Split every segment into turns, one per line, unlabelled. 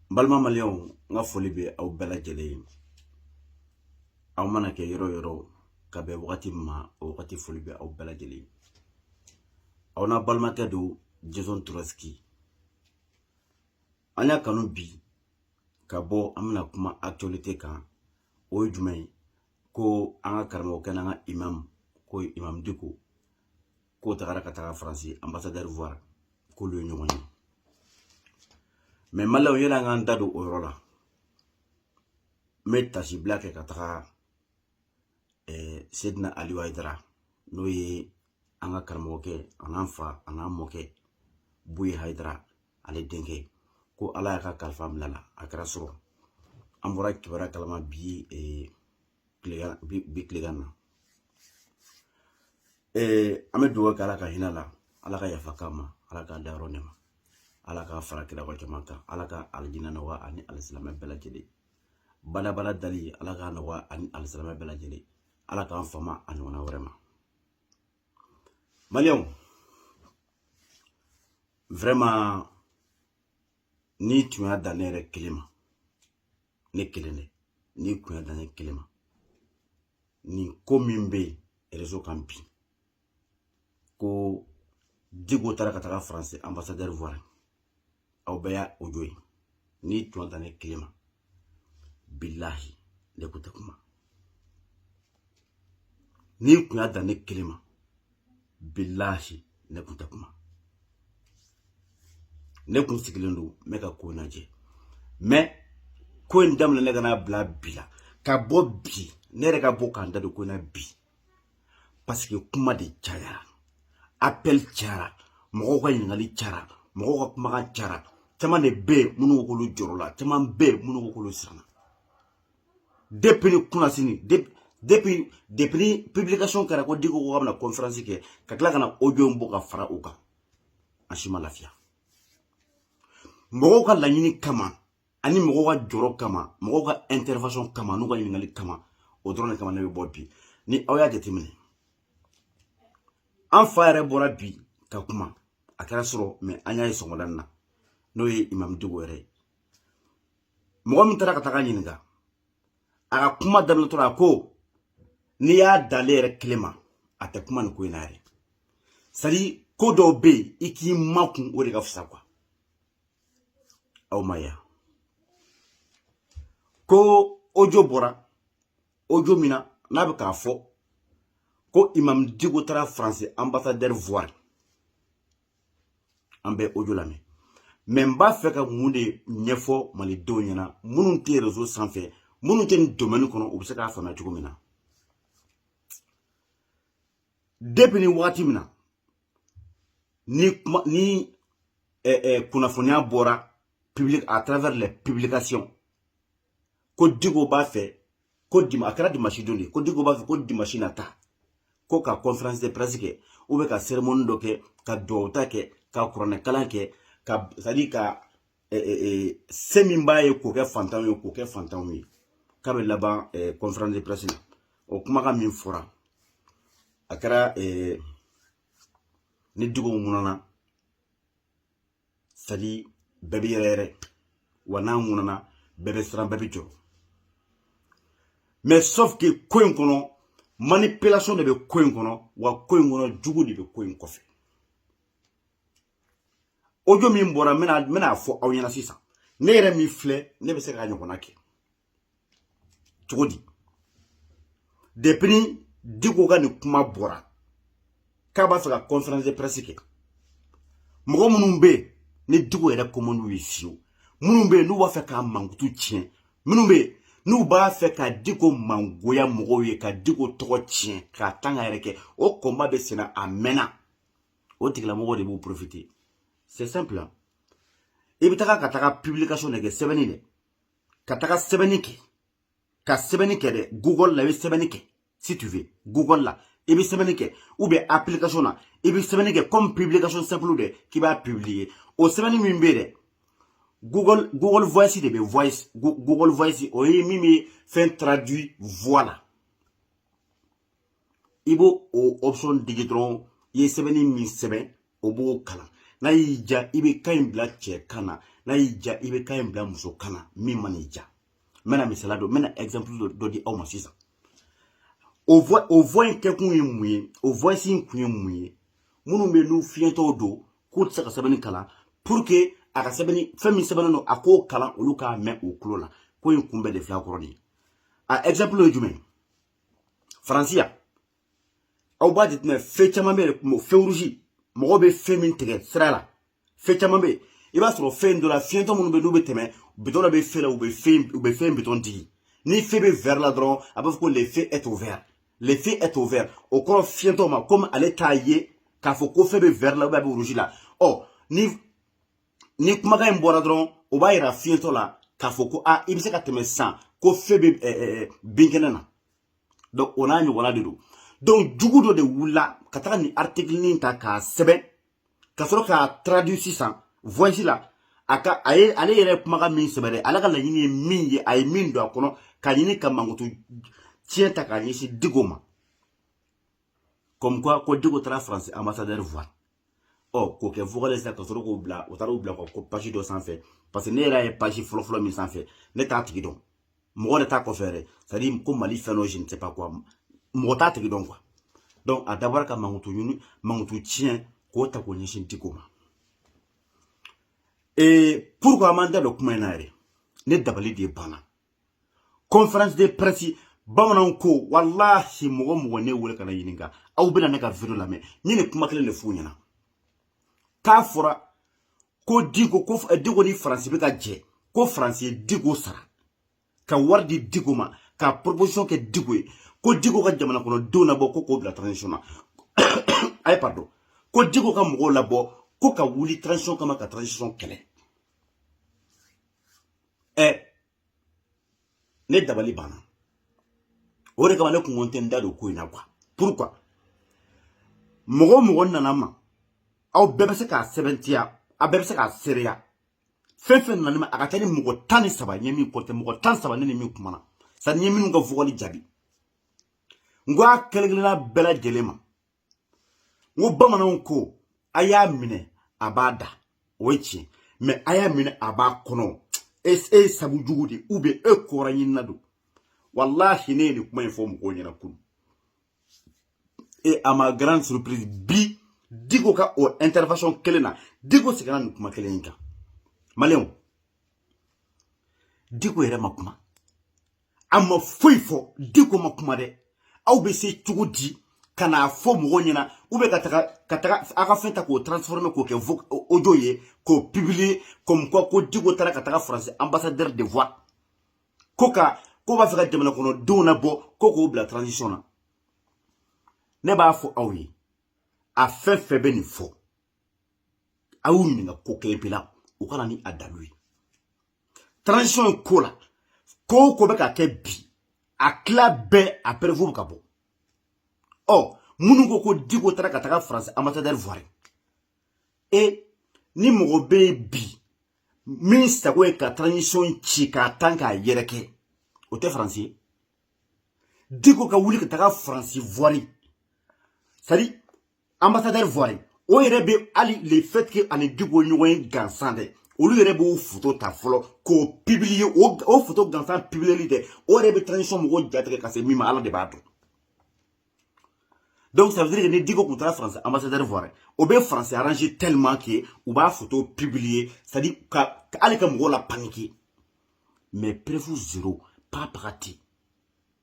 n balima maliyɛnw n ka foli bɛ aw bɛɛ lajɛlen ye aw mana kɛ yɔrɔ yɔrɔ ka bɛn wagati min ma o wagati foli bɛ aw bɛɛ lajɛlen ye aw n'a balimakɛ don jason turasiki an y'a kanu bi ka bɔ an bɛna kuma actualité kan o ye jumɛn ye ko an ka karamɔgɔkɛ n'an ka imam ko imam diko k'o tagara ka taga faransi anbasadɛri voir k'olu ye ɲɔgɔn ye mais maliyɛnw yanni an k'an da don o yɔrɔ la n bɛ tasibila kɛ ka taga sedina aliyu hayidara n'o ye an ka karamɔgɔkɛ an'an fa an'an mɔkɛ buye hayidara ale denkɛ ko ala y'a ka kalifa minɛ la a kɛra sɔrɔ an bɔra kibaruya kalama bi tilegan bi bi tilegan na ee an bɛ dugawu kɛ ala ka hinɛ a la ala ka yafa k'a ma ala k'a dayɔrɔ nɛɛma ala k'a fara kira ka jama kan ala ka alijinɛ nɔgɔya ani alisilamɛ bɛɛ lajɛlen badabada dali ala k'a nɔgɔya ani alisilamɛ bɛɛ lajɛlen ala k'an fama a ɲɔgɔnna wɛrɛ ma maliyɛnw vraiment n'i tun y'a dan ne yɛrɛ kelen ma ne kelen dɛ n'i kun y'a dan ne kelen ma nin ko min bɛ réseau kan bi ko diko taara ka taga faransi anbasadɛri voir aw bɛɛ y'a audio ye n'i tun y'a dan ne kelen ma bilahi ne kun tɛ kuma n'i kun y'a dan ne kelen ma bilahi ne kun tɛ kuma ne kun sigilen don n bɛ ka ko lajɛ mais ko in daminɛ ne ka n'a bila bi la ka bɔ bi ne yɛrɛ ka bɔ k'an da don ko in na bi parce que kuma de cayara appel cayara mɔgɔw ka ɲininkali cayara mɔgɔw ka kumakan cayara caman de bɛ yen minnu k'olu jɔrɔla caman bɛ yen minnu k'olu siranna depuis ni kunnasini depuis depuis depuis ni publication kɛra ko diko ko k'a bɛna conférence kɛ ka tila ka na audio in bɔ ka fara o kan an si ma lafiya mɔgɔw ka laɲini kama ani mɔgɔw ka jɔrɔ kama mɔgɔw ka intervention kama n'u ka ɲininkali kama o dɔrɔn de kama ne bɛ bɔ bi ni aw y'a jateminɛ an fa yɛrɛ bɔra bi ka kuma a kɛra sɔrɔ mais an y'a ye sɔgɔmada na n'o ye imam diko yɛrɛ ye mɔgɔ min taara ka taga ɲininka a ka kuma daminɛtɔ la a ko n'i y'a dan ale yɛrɛ kelen ma a tɛ kuma nin ko in na yɛrɛ c'est-à-dire ko dɔw bɛ yen i k'i makun o de ka fisa quoi aw m'a ye ko audio bɔra audio min na n'a bɛ k'a fɔ ko imam diko taara faransi ambassadeur voir an bɛ audio lamɛn mais n b'a fɛ ka mun de ɲɛfɔ malidenw ɲɛna minnu tɛ réseau sanfɛ minnu tɛ nin domaine kɔnɔ u bɛ se k'a faamuya cogo min na depuis nin wagati min na ni kuma ni eh, eh, kunnafoniya bɔra public à travers les publications ko diko b'a fɛ ko dim a kɛra dimasi don de ko diko b'a fɛ ko dimasi nata ko ka conférence de presse kɛ ou bien ka cérémonie dɔ kɛ ka duwawuta kɛ ka kuranɛkalan kɛ ka c'est à dire ka se min b'a ye k'o kɛ fantanw ye k'o kɛ fantanw ye k'a bɛ laban conférence de presse la o kumakan min fɔra a kɛra ni diko ŋunana c'est à dire bɛɛ bɛ yɛrɛyɛrɛ wa n'a ŋunana bɛɛ bɛ siran bɛɛ bɛ jɔrɔ mais sauf que ko in kɔnɔ manipulation de bɛ ko in kɔnɔ wa ko in kɔnɔ jugu de bɛ ko in kɔfɛ audio min bɔra n bɛna n bɛna fɔ aw ɲɛna sisan ne yɛrɛ min filɛ ne bɛ se k'a ɲɔgɔnna kɛ cogo di depuis diko ka nin kuma bɔra k'a b'a fɛ ka conférence de presse kɛ mɔgɔ minnu bɛ yen ni diko yɛrɛ ko man di u ye fiyewu minnu bɛ yen n'u b'a fɛ k'a mankutu tiɲɛ minnu bɛ yen n'u b'a fɛ ka diko mangoya mɔgɔw ye ka diko tɔgɔ tiɲɛ k'a tanga yɛrɛkɛ o combat bɛ senna a mɛnna o tigilamɔgɔw de b'u profiter c'est simple i bɛ taga ka taga publication de kɛ sɛbɛnni dɛ ka taga sɛbɛnni kɛ ka sɛbɛnni kɛ dɛ google la i bɛ sɛbɛnni kɛ si tu veux google la i bɛ sɛbɛnni kɛ ou bien application na i bɛ sɛbɛnni kɛ comme publication simple dɛ k'i b'a publier o sɛbɛnni min bɛ yen dɛ google google voice de bɛ voice google voice o ye min bɛ fɛn traduit voix la i b'o o option digi dɔrɔn i ye sɛbɛnni min sɛbɛn o b'o kalan n'a y'i diya i bɛ kan in bila cɛ kan na n'a y'i diya i bɛ kan in bila muso kan na min man'i diya n bɛna misaliya dɔ n bɛna exemple dɔ dɔ di aw ma sisan o voix o voix in kɛkun ye mun ye o voix in kun ye mun ye minnu bɛ n'u fiyentɔw don k'u tɛ se ka sɛbɛnni kalan pour que a ka sɛbɛnni fɛn min sɛbɛnnen don a k'o kalan olu k'a mɛn u tulo la ko in kun bɛɛ de filɛ a kɔrɔ de ye a exemple ye jumɛn ye faransi yan aw b'a jateminɛ feu caman bɛ yen feu rouge mɔgɔw bɛ feu min tigɛ sira la feu caman bɛ yen i b'a sɔrɔ fɛn dɔ la fiyentɔ minnu bɛ n'u bɛ tɛmɛ bitɔn dɔ bɛ feu la u bɛ fɛn u bɛ feu bitɔn digi ni feu bɛ vert la dɔrɔn a b'a fɔ ko le feu est au vert le feu est au vert o kɔrɔ fiyentɔ ma komi ale t'a ye k'a fɔ ko feu bɛ vert la ou bien a bɛ rouge la ɔ ni ni kumakan in bɔra dɔrɔn o b'a yira fiyentɔ la k'a fɔ ko a i bɛ se ka tɛmɛ sisan ko feu bɛ binkɛnɛ na donc o n'a ɲɔgɔnna de don donc jugu dɔ de wulila ka taga nin article nin ta k'a sɛbɛn ka sɔrɔ k'a traduire sisan voice la a ka a ye ale yɛrɛ kumakan min sɛbɛn dɛ ale ka laɲini ye min ye a ye min don a kɔnɔ ka ɲini ka mankutu tiɲɛ ta k'a ɲɛsin diko ma comme quoi ko diko taara faransi ambassadeur voir ɔ k'o kɛ vocal sisan ka sɔrɔ k'o bila u taara o bila ka ko page dɔ sanfɛ parce que ne yɛrɛ ye page fɔlɔfɔlɔ min sanfɛ ne t'a tigi dɔn mɔgɔ de t'a kɔfɛ yɛrɛ c'est à dire ko mali fɛn dɔ je ne sais pas quoi mɔgɔ t'a tigi dɔn quoi donc a dabɔra ka mankutu ɲini mankutu tiɲɛ k'o ta k'o ɲɛsin diko ma et pourquoi n ma n da don kuma in na yɛrɛ ne dabali de banna conférence de presse bamananw ko walahi mɔgɔ mɔgɔ ne wele ka ne ɲininka aw bɛna ne ka video lamɛn n ye nin kuma kelen de f'u ɲɛna k'a fɔra ko diko ko eh, diko ni faransi bɛ ka jɛ ko faransi ye diko sara ka wari di diko ma ka proposition kɛ diko ye ko diko ka jamana kɔnɔ denw labɔ ko k'o bila transition na ayi pardon ko diko ka mɔgɔw labɔ ko ka wuli transition kama ka transition kɛlɛ ɛ ne dabali banna o de kama ne kun ko n tɛ n da don ko in na quoi pourquoi mɔgɔ o mɔgɔ nana n ma aw bɛɛ bɛ se k'a sɛbɛntiya a bɛɛ bɛ se k'a seereya fɛn fɛn nana n ma a ka ca ni mɔgɔ tan ni saba n ye min compter mɔgɔ tan ni saba ne ni min kumana sani n ye minnu ka vocal jaabi n ko a kelen kelenna bɛɛ lajɛlen ma n ko bamananw ko a y'a minɛ a b'a da o ye tiɲɛ mais a y'a minɛ a b'a kɔnɔ e e ye sabu jugu de ou bien e kɔrɔ ɲinina don walahi ne ye nin kuma in fɔ mɔgɔw ɲɛna kunu et à ma grande surprise bi diko ka o intervention kelen na diko seginna nin kuma kelen in kan maliyɛnw diko yɛrɛ ma kuma a ma foyi fɔ diko ma kuma dɛ aw bɛ se cogo di ka n'a fɔ mɔgɔw ɲɛna u bɛ ka taga ka taga a ka fɛn ta k'o transformer k'o kɛ audio ye k'o publier comme quoi ko diko taara ka taga faransi ambassadeur de voir ko ka ko b'a fɛ ka jamana kɔnɔ denw labɔ ko k'o bila transition na ne b'a fɔ aw ye a fɛn fɛn bɛ nin fɔ a y'u ɲininka ko kelen pe la u ka na ni a dalu ye transition ye ko la ko o ko bɛ ka kɛ bi a tila bɛɛ a preuve bɛ ka bɔ ɔ minnu ko ko diko taara ka taga faransi ambassadeur voir e ni mɔgɔ bɛ yen bi min sago ye ka transition ci k'a tan k'a yɛrɛkɛ o tɛ faransi ye diko ka wuli ka taga faransi voir c'est à dire ambassadeur voir o yɛrɛ bɛ hali le fait que a ni diko ɲɔgɔn ye gansan dɛ olu yɛrɛ b'o foto ta fɔlɔ k'o publier o foto gansan publier dɛ o yɛrɛ bɛ transition mɔgɔw jatigɛ ka se min ma ala de b'a dɔn donc ça veut dire que ni diko tun taara faransi ambassadeur voir o bɛ faransi arranger tellement que u b'a foto publier c'est à dire ka hali ka mɔgɔw la paniquer mais preuve zéro pas prati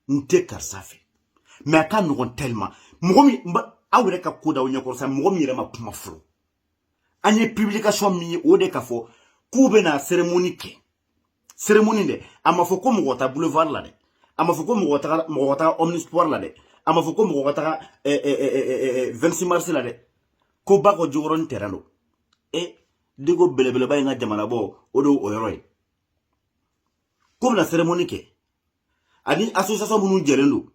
n tɛ karisa fɛ mais a ka nɔgɔn tellement mɔgɔ min aw yɛrɛ ka ko da o ɲɛkɔrɔ sa mɔgɔ min yɛrɛ ma kuma fɔlɔ an ye publication min ye o de ka fɔ k'u bɛna cérémonie kɛ cérémonie dɛ a ma fɔ ko mɔgɔ ta boulevard la dɛ a ma fɔ ko mɔgɔ taga mɔgɔ ka taga omnisport la dɛ a ma fɔ ko mɔgɔ ka taga 26 mars la dɛ ko bakɔ jikɔrɔni terrain don e diko belebeleba in ka jamanabɔ o de o yɔrɔ ye k'u bɛna cérémonie kɛ ani association minnu jɛlen don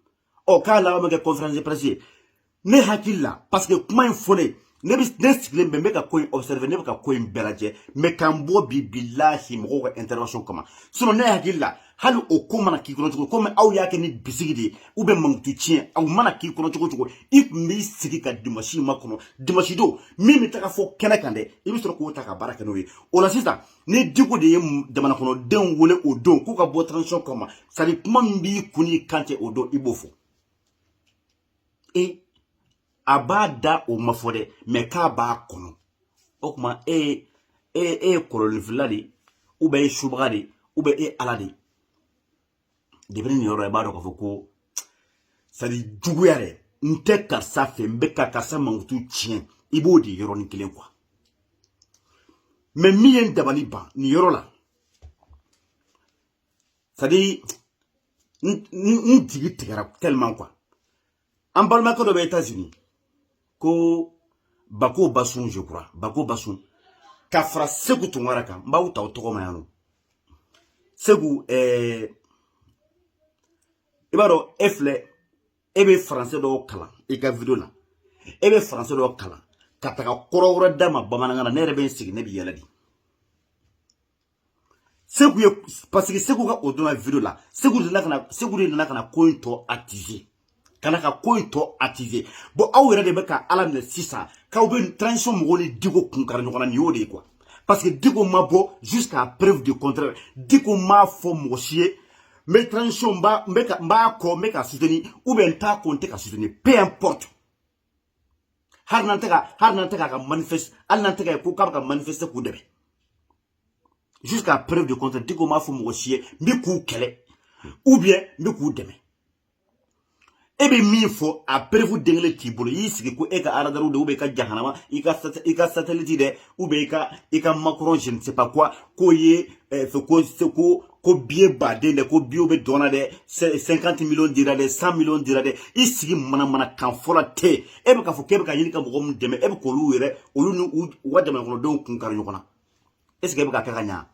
ɔ k'a laban bɛ kɛ conférence de presse ye ne hakili la parce que kuma in fɔlen ne bi ne sigilen bɛ n bɛ ka ko in observer ne bɛ ka ko in bɛɛ lajɛ mais k'an bɔ bi bilahi mɔgɔw ka intervention kama sinon ne hakili la hali o ko mana k'i kɔnɔ cogo comme aw y'a kɛ ni bisigi de ye ou bien mankutu tiɲɛ aw mana k'i kɔnɔ cogo cogo i tun b'i sigi ka dimanche makɔnɔ dimanche don min bɛ taga fɔ kɛnɛ kan dɛ i bɛ sɔrɔ k'o ta ka baara kɛ n'o ye o la sisan ni diko de ye jamana kɔnɔdenw wele o don k'u ka bɔ transition kama c'est à dire kuma min b'i kun n'i kan cɛ o don i b'o fɔ e a b'a da o ma fɔ dɛ mais k'a b'a kɔnɔ o tuma e ye e e ye kolonninfilila de ye ou bien e ye subaga de ye ou bien e ye ala de ye depuis nin yɔrɔ i b'a dɔn k'a fɔ ko c'est à dire juguya dɛ n tɛ karisa fɛ n bɛ ka karisa mankutu tiɲɛ i b'o de yɔrɔnin kelen quoi mais min ye n dabali ban nin yɔrɔ la c'est à dire n jigi tigɛra tellement quoi an balimakɛ dɔ bɛ États-Unis ko Bako Basun je crois Bako Basun ka fara Segu Tunkara kan n b'aw ta aw tɔgɔ ma yan nɔ Segu ɛɛ i b'a dɔn e filɛ e bɛ français dɔw kalan i ka video la e bɛ français dɔw kalan ka taga kɔrɔ wɛrɛ d'a ma bamanankan na ne yɛrɛ bɛ n sigi ne bɛ yɛlɛ de segu ye parce que segu ka o donna video la segu de nana ka na segu de nana ka na ko in tɔ attiser ka na ka ko in tɔ attiser bon aw yɛrɛ de bɛ ka ala minɛ sisan k'aw bɛ transition mɔgɔw ni diko kun kari ɲɔgɔn na nin y'o de ye quoi parce que diko ma bɔ jusqu'à preuve du contraire diko m'a fɔ mɔgɔ si ye n bɛ transition n b'a n bɛ ka n b'a kɔ n bɛ k'a soutenir ou bien n t'a kɔ n tɛ k'a soutenir peu importe hali n'an tɛ ka hali n'an tɛ k'a ka manifeste hali n'an tɛ ka ye ko k'a bɛ ka manifeste k'u dɛmɛ jusqu'à preuve de contraire Diko m'a fɔ mɔgɔ si ye n bɛ k'u kɛlɛ ou bien n bɛ k'u dɛmɛ e bɛ min fɔ a preuve den kelen t'i bolo i y'i sigi ko e ka aradariw de ou bien i ka jahanama i ka i ka satellite dɛ ou bien i ka i ka Macron je ne sais pas quoi k'o ye eh, fɛ ko ko ko biye baden dɛ ko biyew bɛ dɔn na dɛ cinquante millions dira dɛ cent millions dira dɛ i sigi mana mana kan fɔla tɛ e bɛ k'a fɔ k'e bɛ ka ɲini ka mɔgɔ minnu dɛmɛ e bɛ k'olu yɛrɛ olu ni u ka jamanakɔnɔdenw kun kari ɲɔgɔn na est ce que e bɛ ka kɛ ka ɲa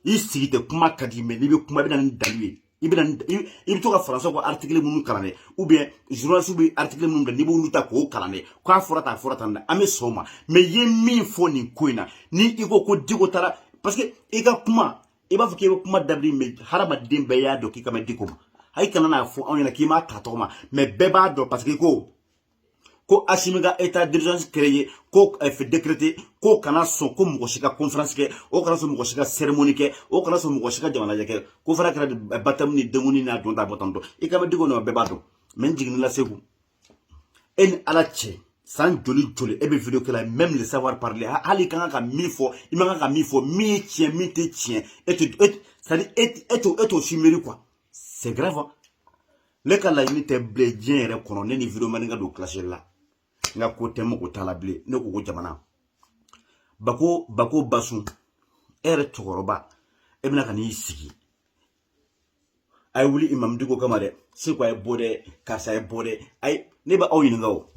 i sigi tɛ kuma ka di mais n'i bɛ kuma i bɛ na ni dalu ye i bɛ na i bɛ to ka faransa ko article minnu kalan dɛ ou bien journaliste bɛ article minnu bila n'i b'olu ta k'o kalan dɛ k'a fɔra tan a fɔra tan dɛ an bɛ sɔn o ma mais i ye min fɔ nin ko in na ni i ko ko Diko taara parce que i ka kuma i b'a fɔ k'i bɛ kuma dabiri mais hadamaden bɛɛ y'a dɔn k'i kan bɛ Diko ma ayi kana n'a fɔ anw ɲɛna k'i m'a ta tɔgɔ ma mais bɛɛ b'a dɔn parce que ko ko Asimi ka état d'urgence créé ko eh, décrété ko kana sɔn ko mɔgɔ si ka conférence kɛ o kana sɔn mɔgɔ si ka cérémonie kɛ o kana sɔn mɔgɔ si ka jamalajɛ kɛ ko fana kɛra eh, baptême ni denkundi n'a dɔn ta bɔtantɔ i kan bɛ Diko nɔ bɛɛ b'a dɔn mais n jiginni la Seku e ni ala cɛ san joli joli e bɛ video kɛ la même le savoir parler hali i ka kan ka min fɔ i man kan ka min fɔ min ye tiɲɛ min tɛ tiɲɛ e tɛ e c'est à dire e t'o e t'o si miiri quoi c'est grave ne ka laɲini tɛ bilen diɲɛ yɛrɛ kɔnɔ ne ni videoman ka don clash la n ka ko tɛ mɔgɔ t'a la bilen ne ko ko jamana bako bako basun e yɛrɛ cɛkɔrɔba e bɛna ka n'i sigi a ye wuli imamu Diko kama dɛ seko a ye bɔ dɛ karisa ye bɔ dɛ ayi ne bɛ aw ɲininka o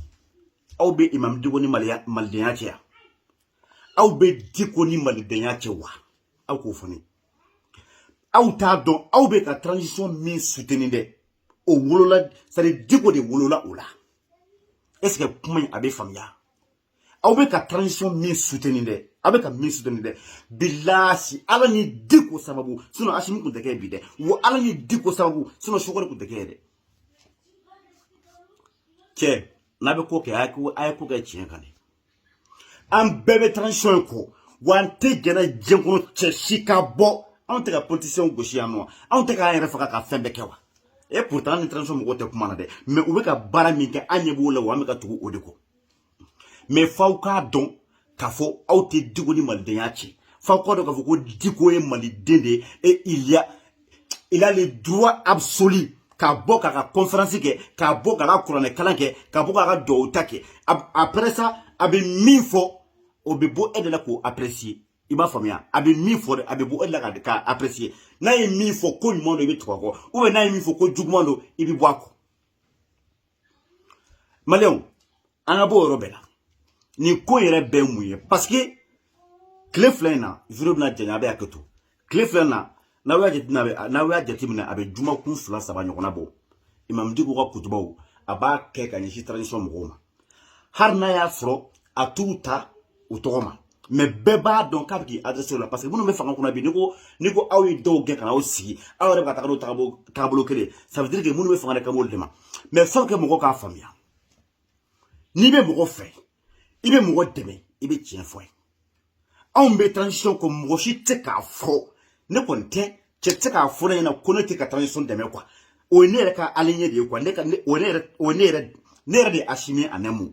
aw bɛ imamu Diko ni maliya malidenya cɛ yan aw bɛ Diko ni malidenya cɛ wa aw k'o fɔ ne ye aw t'a dɔn aw bɛ ka transition min soutenir dɛ o wolola c'est à dire Diko de wolola o la est ce que kuma in a bɛ faamuya aw bɛ ka transition min soutenir dɛ aw bɛ ka min soutenir dɛ bilahi ala ni Diko sababu sinon Asimi tun tɛ kɛ bi dɛ wa ala ni Diko sababu sinon Choguel tun tɛ kɛ dɛ cɛ n'a bɛ ko kɛ a ye ko kɛ tiɲɛ kan dɛ an bɛɛ bɛ transition in kɔ wa an tɛ jɛnɛ diɲɛ kɔnɔ cɛ si ka bɔ anw tɛ ka politiciens gosi yan nɔ anw tɛ k'an yɛrɛ faga ka fɛn bɛɛ kɛ wa et pourtant an ni transition mɔgɔw tɛ kuma na dɛ mais u bɛ ka baara min kɛ an ɲɛ b'o la wa an bɛ ka tugu o de kɔ mais f'aw k'a dɔn k'a fɔ aw tɛ Diko ni malidenya cɛ f'aw k'a dɔn k'a fɔ ko Diko ye maliden de ye et il y a il a le droit absolu k'a bɔ k'a ka conférence kɛ k'a bɔ k'a ka kuranɛ kalan kɛ k'a bɔ k'a ka duwawu ta kɛ après ça a bɛ min fɔ o bɛ bɔ e de la k'o apprécier i b'a faamuya a bɛ min fɔ dɛ a bɛ bɔ e de la k'a apprécier n'a ye min fɔ ko ɲuman don i bɛ tugu a kɔ ou bien n'a ye min fɔ ko juguman don i bɛ bɔ a kɔ maliyɛnw an ka bɔ o yɔrɔ bɛɛ la nin ko yɛrɛ bɛɛ ye mun ye parce que tile fila in na video bɛna janya a bɛ hakɛ to tile fila in na n'aw y'a jateminɛ a bɛ jumakun fila saba ɲɔgɔnna bɔ imam diko ka kutubaw a b'a kɛ ka ɲɛsin transition mɔgɔw ma hali n'a y'a sɔrɔ a t'u ta u tɔgɔ ma mais bɛɛ b'a dɔn k'a bɛ k'i adresser la parce que minnu bɛ fanga kunna bi ni ko ni ko aw ye dɔw gɛn ka na aw sigi aw yɛrɛ bɛ ka taga n'o tagabolo tagabolo kelen ça veut dire que minnu bɛ fanga de kan b'olu de ma mais faut que mɔgɔ k'a faamuya n'i bɛ mɔgɔ fɛ i bɛ mɔgɔ dɛmɛ i bɛ tiɲɛ fɔ ye anw bɛ transition kɔ mɔgɔ si tɛ k'a fɔ ne kɔni tɛ cɛ tɛ k'a fɔ ne ɲɛna ko ne tɛ ka transition dɛmɛ quoi o ye ne yɛrɛ ka aligné de ye quoi ne ka o ye ne yɛrɛ o ye ne yɛrɛ ne yɛrɛ de ye Asimi Anɛmu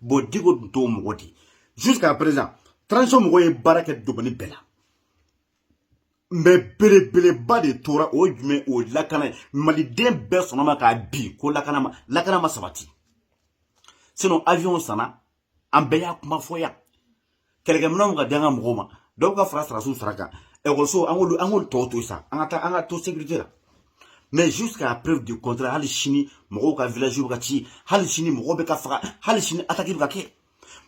bon diko tun t'o mɔgɔ di jusqu'à présent transition mɔgɔ ye baara kɛ domaine bɛɛ la mais belebeleba de tora o ye jumɛn o ye lakana ye maliden bɛɛ sɔnn'o ma k'a bi ko lakana ma sabati sinon avion sanna an bɛɛ y'a kuma fɔ yan kɛlɛkɛminɛnw ka di an ka mɔgɔw ma dɔ ka fara sɔrɔdasiw sara kan ekɔliso an k'olu an k'olu tɔw to sa an ka taa an ka to sécurité la mais jusqu'à preuve du contraire hali sini mɔgɔw ka village bɛ ka ci hali sini mɔgɔw bɛ ka faga hali sini attaque bɛ ka kɛ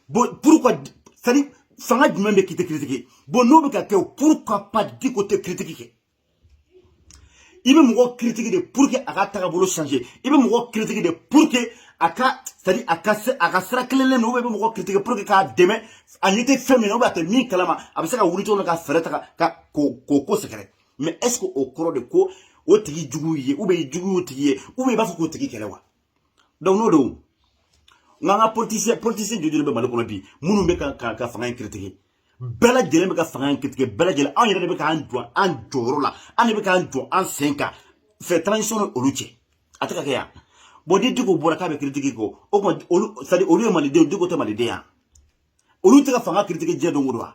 bon pourquoi c'est à dire fanga jumɛn bɛ k'i tɛ critiquer bon n'o bɛ ka kɛ o pourquoi pas diko tɛ critique kɛ i bɛ mɔgɔ critiquer de pour que a ka tagabolo changer i bɛ mɔgɔ critiquer de pour que a ka c'est à dire a ka se a ka sira tilennen dɔn i bɛ mɔgɔ critiquer pour que k'a dɛmɛ a ɲɛ tɛ fɛn min na a tɛ min kalama a bɛ se ka wuli cogo min na ka fɛɛrɛ ta ka k'o k'o ko sɛgɛrɛ mais est ce que o kɔrɔ de ko o tigi jugu ye ou bien jugu y'o tigi ye ou bien i b'a fɛ k'o tigi kɛlɛ wa donc n'o don n k'an ka politicien politicien joli de bɛ mali kɔnɔ bi minnu bɛ ka ka fanga in critiquer bɛɛ lajɛlen bɛ ka fanga in critiquer bɛɛ lajɛlen anw yɛrɛ de bɛ k'an jɔ an jɔyɔrɔ la an de bɛ k'an jɔ an sen kan fɛ transition ni olu cɛ a tɛ ka kɛ yan bon ni diko bɔra k'a bɛ critiquer ko o tuma olu c'est à dire olu ye maliden diko tɛ maliden ye wa olu tɛ ka fanga critiquer diɲɛ don o don wa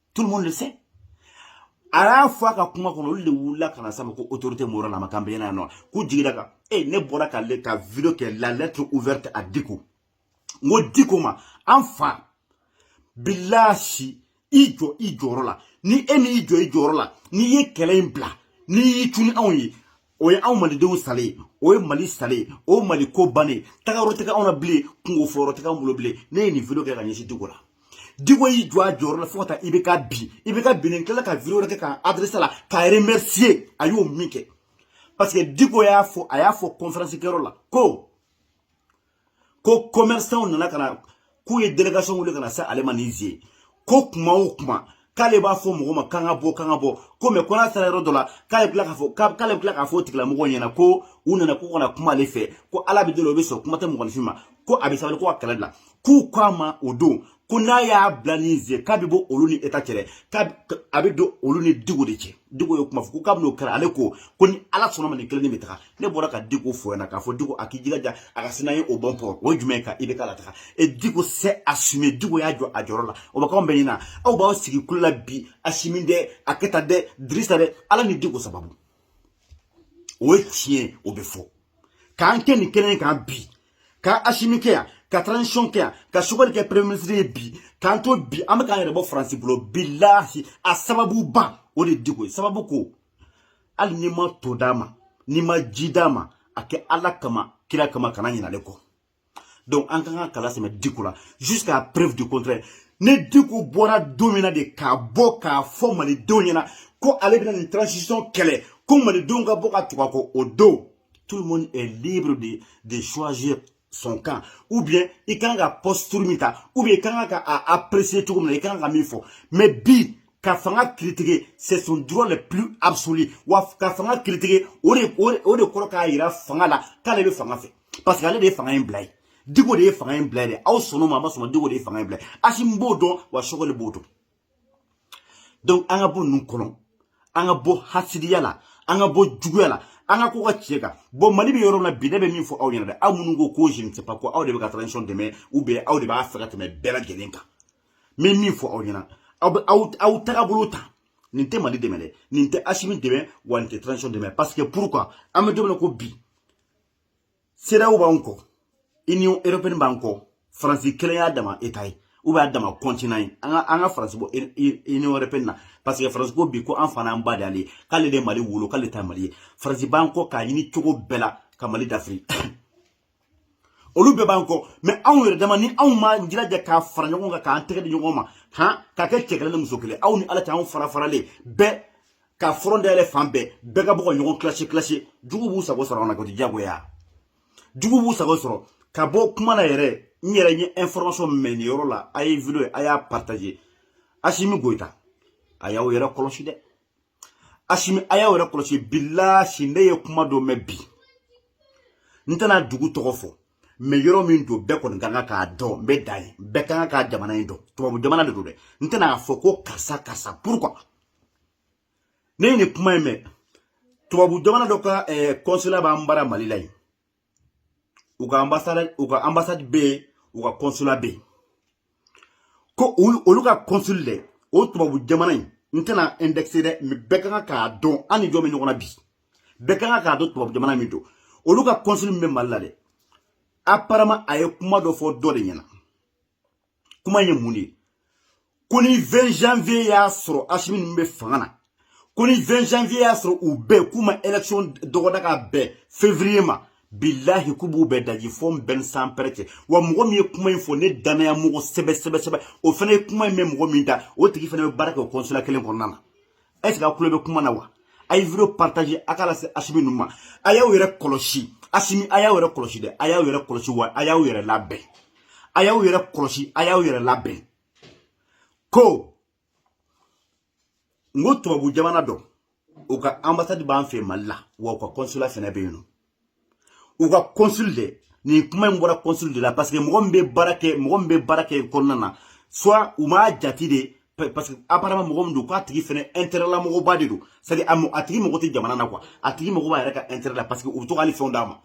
tout le monde le sait a y'a fɔ a ka kuma kɔnɔ olu de wulila ka na s'a ma ko autorité morale na ma k'an bɛ yan nɔ k'u jigi d'a kan e ne bɔra ka ne ka video kɛ la lettre ouverte à Diko n ko Diko ma an fa bilahi i jɔ i jɔyɔrɔ la ni e m'i jɔ i jɔyɔrɔ la n'i ye kɛlɛ in bila n'i y'i cun anw ye o ye anw malidenw salen ye o ye mali salen ye o mali ko bannen tagayɔrɔ tɛ anw na bilen kunko fɔyɔrɔ tɛ anw bolo bilen ne ye nin video kɛ ka ɲɛsin diko la diko y'i jɔ a jɔyɔrɔ la fo ka taa IBK bin IBK binnen tilala ka video wɛrɛ kɛ k'a adresser la k'a remercier a y'o min kɛ parce que diko y'a fɔ a y'a fɔ conférence kɛyɔrɔ la ko ko commerçantw nana ka na k'u ye délégation wuli ka na se ale ma ni zi ye ko kuma o kuma k'ale b'a fɔ mɔgɔ ma k'an ka bɔ k'an ka bɔ ko mais ko n'a sera yɔrɔ dɔ la k'ale tila k'a fɔ k'ale bɛ tila k'a fɔ o tigilamɔgɔw ɲɛna ko u nana k'u kana kuma ale fɛ ko ala bɛ deli o bɛ sɔn kuma tɛ mɔgɔninfin ma ko a bɛ sabali ko a ka kɛlɛ dabila k'u ko a ma o don ko n'a y'a bila ni ze k'a bɛ bɔ olu ni état cɛ dɛ k'a a bɛ don olu ni diko de cɛ diko ye kuma fɔ ko k'a bɛ n'o kɛra ale ko ko ni ala sɔnna ma nin kelen de bɛ taga ne bɔra ka diko fɔ ɲɛna k'a fɔ diko a k'i jilaja a ka se n'a ye au bon port o ye jumɛn ye ka ibk lataga et diko s'est assumé diko y'a jɔ a jɔyɔrɔ la o bɛ k'anw bɛɛ ɲɛna aw b'aw sigi kulu la bi asimi dɛ a keyita dɛ dirisa dɛ ala ni diko sababu o ye tiɲɛ o bɛ fɔ k'an kɛ nin kelen kan bi ka asimi kɛ yan ka transition kɛ yan ka choguel kɛ premier ministre ye bi k'an to bi an bɛ k'an yɛrɛ bɔ faransi bolo bilahi a sababuba o de diko ye sababu ko hali n'i ma to d'a ma n'i ma ji d'a ma a kɛ ala kama kira kama kana ɲina ale kɔ donc an ka kan ka kala sɛmɛ diko la jusqu'à preuve du contraire ni diko bɔra don min na dɛ ka bɔ k'a fɔ malidenw ɲɛna ko ale bɛna nin transition kɛlɛ ko malidenw ka bɔ ka tugu a kɔ o don tout le monde est libre de, de choisir son camp ou bien i ka kan ka posture min ta ou bien i ka kan ka a apprécier cogo min na i kan ka min fɔ mais bi ka fanga critiquer c'est son droit le plus absolu wa ka fanga critiquer o de o de kɔrɔ k'a yira fanga la k'ale bɛ fanga fɛ parce que ale de ye fanga in bila ye diko de ye fanga in bila ye dɛ aw sɔnn'o ma aw ma sɔn a ma diko de ye fanga in bila ye asimi b'o dɔn wa choguel b'o dɔn donc an ka bɔ ninnu kɔnɔ an ka bɔ hasidiya la an ka bɔ juguya la an ka ko kɛ tiɲɛ kan bon mali bɛ yɔrɔ min na bi ne bɛ min fɔ aw ɲɛna dɛ aw minnu ko ko je ne sais pas quoi aw de bɛ ka transition dɛmɛ ou bien aw de b'a fɛ ka tɛmɛ bɛɛ lajɛlen kan n bɛ min fɔ aw ɲɛna aw bɛ aw aw tagabolo ta nin tɛ mali dɛmɛ dɛ nin tɛ asimi dɛmɛ wa nin tɛ transition dɛmɛ parce que pourquoi an bɛ don min na i ko bi cedeao b'an kɔ union européenne b'an kɔ faransi kelen y'a dama état ye ou bien a dama continent ye an ka an ka faransi bɔ union européenne na parce que faransi ko bi ko an fa n'an ba de ale ye k'ale de mali wolo k'ale ta mali ye faransi b'an kɔ k'a ɲini cogo bɛɛ la ka mali dafiri olu bɛɛ b'an kɔ mais anw yɛrɛ dama ni anw m'an jilaja ka fara ɲɔgɔn kan k'an tɛgɛ di ɲɔgɔn ma han ka kɛ cɛ kelen ni muso kelen aw ni ala cɛ anw fara faralen bɛɛ ka front dayɛlɛ fan bɛɛ bɛɛ ka bɔ ka ɲɔgɔn clash clash juguw b'u sago sɔrɔ an na koyi diyagoya juguw b'u sago sɔrɔ ka bɔ kuma na yɛrɛ n yɛrɛ ye information mɛn nin yɔrɔ la a ye video a y'a partager asimi goyita a y'aw yɛrɛ kɔlɔsi dɛ asimi a y'aw yɛrɛ kɔlɔsi bilahi ne ye kuma dɔ mɛn bi n tɛna dugu tɔgɔ fɔ mais yɔrɔ min don bɛɛ kɔni ka kan k'a dɔn n bɛ dan yen bɛɛ ka kan ka jamana in dɔn tubabu jamana de don dɛ n tɛna fɔ ko karisa karisa pourquoi ne ye nin kuma in mɛn tubabu jamana dɔ ka consulat eh, b'an bara mali la yen u ka ambassade u ka ambassade bɛ yen u ka consulat bɛ yen ko olu ka consul de o tubabu jamana in n tɛna indexer dɛ mais bɛɛ ka kan k'a dɔn an ni jɔn bɛ ɲɔgɔn na bi bɛɛ ka kan k'a dɔn tubabu jamana min don olu ka consul min bɛ mali la dɛ apparemment a ye kuma dɔ fɔ dɔ de ɲɛna kuma ye mun de ye ko ni 20 janvier y'a sɔrɔ asimi ninnu bɛ fanga na ko ni 20 janvier y'a sɔrɔ u bɛɛ k'u ma élection dɔgɔda ka bɛn février ma bilahi k'u b'u bɛɛ daji fɔ n bɛn sanpɛrɛn cɛ wa mɔgɔ min ye kuma in fɔ ne danaya mɔgɔ sɛbɛ sɛbɛ sɛbɛ o fana ye kuma in mɛn mɔgɔ min da o tigi fana bɛ baara kɛ o consulat kelen kɔnɔna na est-ce que aw tulo bɛ kuma na wa a ye video partage a k'a lase asimi ninnu ma a y'aw yɛrɛ kɔlɔsi asimi a y'aw yɛrɛ kɔlɔsi dɛ a y'aw yɛrɛ kɔlɔsi wa a y'aw yɛrɛ labɛn a y'aw yɛrɛ kɔlɔsi a y'aw yɛrɛ labɛn ko n ko tubabu jamana dɔ u ka ambassade b'an fɛ mali la wa u ka consulat fɛnɛ bɛ yen nɔ u ka consul de nin kuma in bɔra consul de la parce que mɔgɔ min bɛ baara kɛ mɔgɔ min bɛ baara kɛ kɔnɔna na soit u m'a jate de parce que apparemment mɔgɔ min don k'a tigi fɛnɛ intérêt la mɔgɔba de don c'est à dire a tigi mago tɛ jamana na quoi a tigi mago b'a yɛrɛ ka intérêt la parce que u bɛ to k'ale fɛnw d'a ma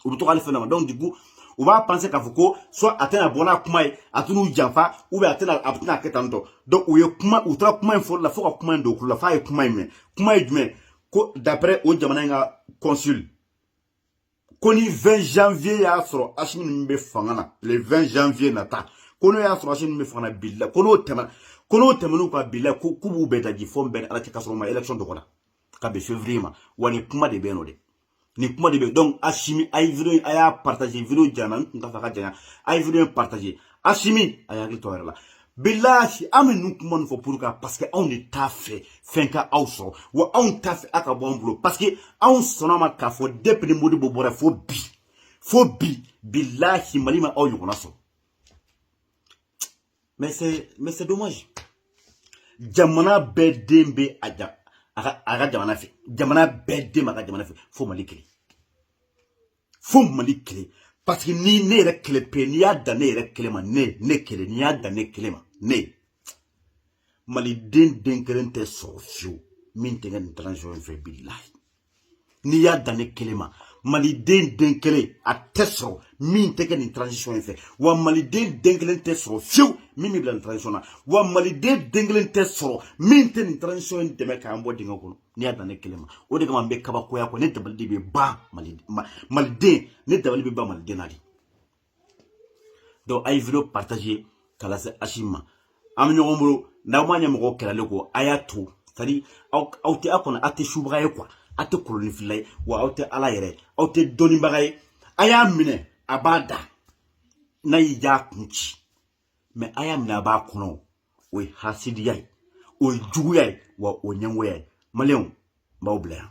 u bɛ to k'ale fɛnw d'a ma donc du coup u b'a penser k'a fɔ ko soit a tɛna bɔ n'a kuma ye a tɛn'u janfa ou bien a tɛna a tɛna kɛ tan tɔ donc u ye kuma u taara kuma in fɔli la fo ka kuma in don u tulo la f'a ye kuma in mɛn kuma ye jumɛn ko d'après o jamana in ka consul ko ni 20 janvier y'a sɔrɔ Asimi ninnu bɛ fanga na le 20 janvier nata ko n'o y'a sɔrɔ Asimi ninnu bɛ fanga na bilahi ko n'o tɛmɛna ko n'o tɛmɛn'u kan bilahi ko k'u b'u bɛɛ daji fɔ n bɛɛ ni Ala cɛ k'a sɔrɔ u ma élection dɔgɔda ka bɛn février ma wa nin kuma de bɛ yen nɔ dɛ nin kuma de bɛ donc asimi a ye video a y'a partage video janyana n tun t'a fɛ ka janya a ye video partage asimi a y'a hakili to a yɛrɛ la bilahi an bɛ ninnu kuma nin fɔ pour ka parce que anw de t'a fɛ fɛn ka aw sɔrɔ wa anw t'a fɛ a ka bɔ an bolo parce que anw sɔnn'a ma k'a fɔ depuis ni modibo bɔra fo bi fo bi bilahi mali ma aw ɲɔgɔnna sɔrɔ mais c'est mais c'est dommage jamana bɛɛ den bɛ a ja a ka a ka jamana fɛ jamana bɛɛ den b'a ka jamana fɛ fo mali kelen fo mali kelen parce que ni ne yɛrɛ kelen pe n'i y'a dan ne yɛrɛ kelen ma ne ne kelen n'i y'a dan ne kelen ma ne maliden den kelen tɛ sɔrɔ fiyewu min tɛ kɛ nin transition in fɛ bilahi n'i y'a dan ne kelen ma maliden den kelen a tɛ sɔrɔ min tɛ kɛ nin transition in fɛ wa maliden den kelen tɛ sɔrɔ fiyewu min bɛ bila nin transition na wa maliden den kelen tɛ sɔrɔ min tɛ nin transition in dɛmɛ k'an bɔ dingɛ kɔnɔ n'i y'a dan ne kelen ma o de kama n bɛ kabakoya ko ne dabali de bɛ ban maliden ne dabali bɛ ban maliden na dɛ donc a ye video partage k'a lase asimi ma an bɛ ɲɔgɔn bolo n'aw ma ɲɛmɔgɔw kɛlɛlen kɔ a y'a to sadi aw aw tɛ aw kɔnɔ aw tɛ subaga ye quoi aw tɛ kolonifilila ye wa aw tɛ ala yɛrɛ aw tɛ dɔnnibaga ye a y'a minɛ a b'a da n'a y'i ja kun ci mais a y'a minɛ a b'a kɔnɔ o ye hasidiya ye o ye juguya ye wa o ɲɛngoya ye maliyɛnw n b'aw bila yan